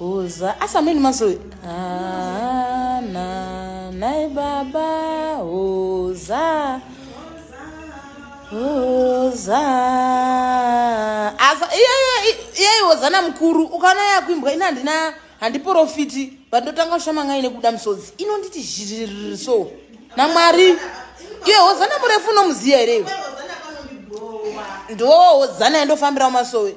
Uza asameni mazoe. Ah, na, nai baba uza. Uza. Asa iye iye iye wozana mkuru ukana yakuimbwa ina ndina handiporofiti but ndotanga kushama ngai nekuda musodzi inonditi zhiriri so namwari iye hozana murefu unomuziya here iwe ndoo hozana yandofambirawo masowe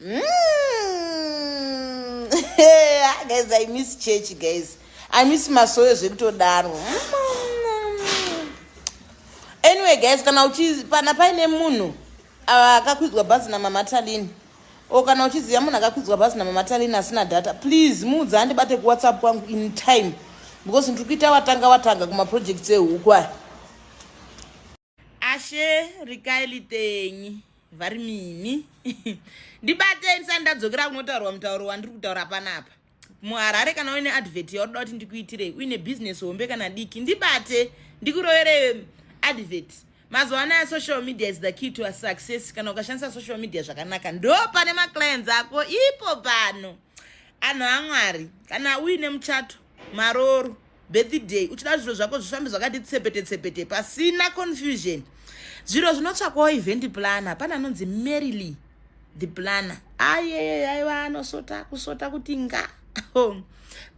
Mm. guys, I miss church, guys. I miss masoyo zvekutodaro. Anyway, guys, kana uchi pana paine munhu ah, akakwidzwa bhazi namama Talini o kana uchiziva munhu akakwidzwa bhazi namama Talini asina data, please muudza andibate kuWhatsApp kwangu in time because ndiri kuita watanga watanga kumaprojects ehuku aya. ashe rikai litenyi vari mimi ndibatei ndisati ndadzokera kunotaurwa mutauro wandiri kutaura panapa muharare kana uine advert yaunoda kuti ndikuitirei uine bhizinesi hombe kana diki ndibate ndikuroverei advert mazuva anaya social media is the key to a success kana ukashandisa social media zvakanaka ndo pane maclients ako ipo pano anhu amwari kana uine muchato marooro birthday uchida zviro zvako zvifambe zvakati tsepete tsepete pasina confusion zviro zvinotsvakwawo event planner pane anonzi maryly the planner ayeye yaiva anosota kusota kuti nga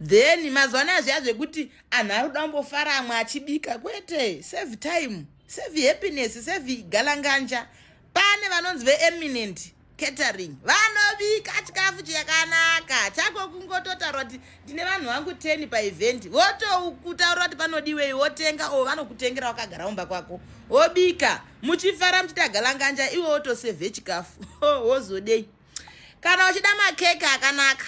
then mazuva anaya zviya zvekuti anhu ari kuda kumbofara amwe achibika kwete save time save happiness save galanganja pane vanonzi veeminent catering vanobika chikafu chakanaka chako kungototaura kuti ndine vanhu vangu 10 paevhendi votokutaurira kuti panodiwei wotenga o vanokutengera wakagara umba kwako wobika muchifara muchiita galanganja iwe wotosevhe chikafu wozodei kana uchida makeke akanaka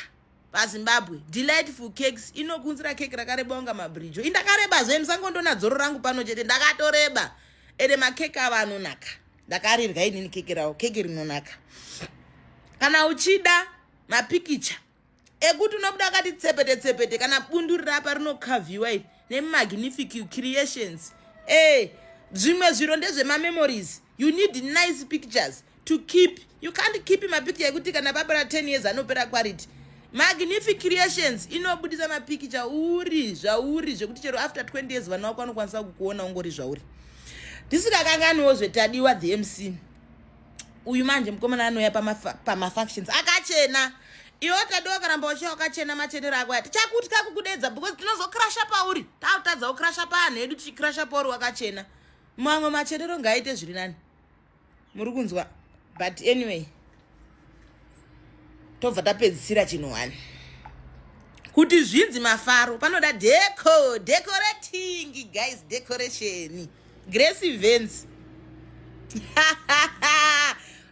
pazimbabwe delightful cakes inokunzira keke rakareba unga mabrijo indakareba zve musangondoona dzoro rangu pano chete ndakatoreba ende makeke ava anonaka ndakarirya inini keke rawo keke rinonaka kana uchida mapikicha ekuti unobuda akati tsepete tsepete kana bundu rirapa rinokavhiwa iri nemagnific creations e zvimwe zviro ndezvemamemories you need nice pictures to keep you can't keep mapikicha ekuti kana papera 10 years anopera quality magnific creations inobudisa mapikicha uri zvauri zvekuti chero after 20 years vana wako vanokwanisa kukuona ungori zvauri ndisikakanganiwo zvetadiwa the mc uyu manje mukomana anouya pamafunctions pama akachena iwo tadiwa karamba wachiya wakachena machenero ako ati chakutya kukudedza because tinozokrasha pauri takutadza ukrasha paanhu edu tichikrasha pauri wakachena mamwe machenero ngaaite zviri nani muri kunzwa but anyway tobva tapedzisira chinhu wani kuti zvinzi mafaro panoda deco decorating guys decoration grace events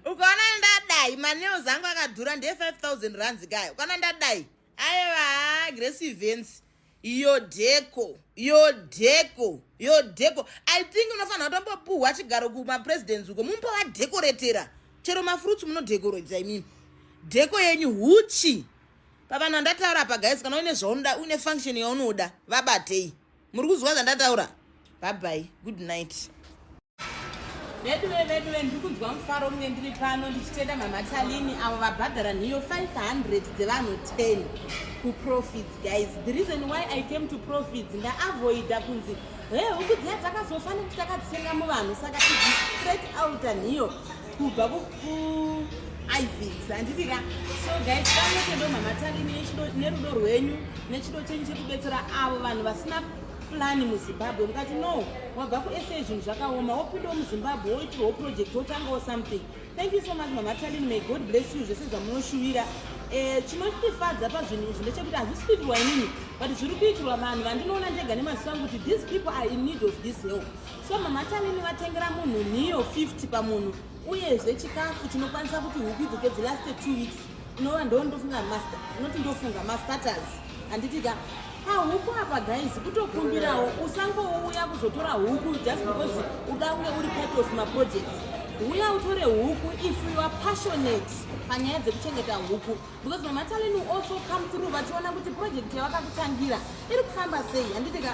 ukaona ndadai manews angu akadhura nde 5000 rands kaya ukaona ndadai aiva grace events yodheko yodheko yodheko i think unofanira kutombopuhwa chigaro kumapresidents uko mumba wadhekoretera chero mafruits munodhekoredza imimi dheko yenyu huchi pavanhu vandataura pagais kana uine zvaunoda uine function yaunoda vabatei muri kuzwa zvandataura bhabhai good night veduve veduve ndiri kunzwa mufaro kunge ndiri pano ndichitenda mamatalini avo vabhadhara nhiyo 500 dzevanhu 10 kuprofits guys the reason why i came to profits ndaavoida kunzi he huku dziya dzakazofa nekuti takadzitenga muvanhu saka straight outa nhiyo kubva kuivics handiti ka so guys pano tedo mama tarini nerudo rwenyu nechido chenyu chekubetsera avo vanhu vasina plani muzimbabwe mukati no wabva kusa zvinhu zvakaoma wopindawo muzimbabwe woitirwawo project wotangawo something thank you so much mama tarini may god bless you zvese zvamunoshuvira Eh, chinotifadza pazvinhu izvi ndechekuti hazvisi kuitirwa inini but zviri kuitirwa vanhu vandinoona ndega nemaziso angu kuti these people are in need of this help so mama tanini vatengera munhu nhiyo 50 pamunhu uyezve chikafu chinokwanisa kuti huku idzoke the last two weeks unova ndo ndofunga master unoti ndofunga mastaters handiti ka pahuku apa guys kutokumbirawo usangouya kuzotora huku just because uda unge uri part of maprojects uya utore huku if you are passionate panyaya dzekuchengeta huku because mamataleni also come through vachiona kuti project yavakakutangira iri kufamba sei handiti ka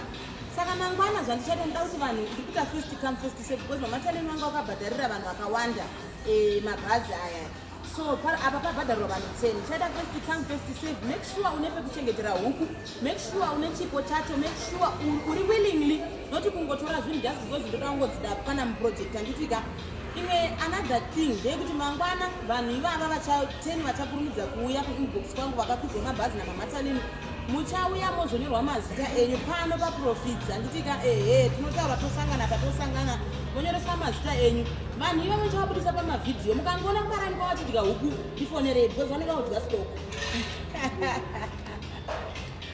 saka mangwana zvandichaita ndida kuti vanhu ndikuita first come first se because mamataleni vanga vakabhadharira vanhu vakawanda eh, mabhazi aya so apa pabhadharirwa vanhu ten chaita first come first save make sure une pekuchengetera huku make sure une chipo chacho make sure uri willingly not kungotora zvinhu just because ndoda kungodzida kana muproject anditika imwe another thing ndeyekuti mangwana vanhu ivava vachateni vachakurumidza kuuya kuinbox kwangu vakakwidza mabhazi namamatanini muchauya mozonyorwa mazita enyu pano paprofits anditika ehe tinotaura tosangana patosangana monyoreswa mazita enyu vanhu ivavo chavabudisa pamavhidhiyo mukangoona kumarani kwavachidya huku ndifonerei because vanenge vaudya stock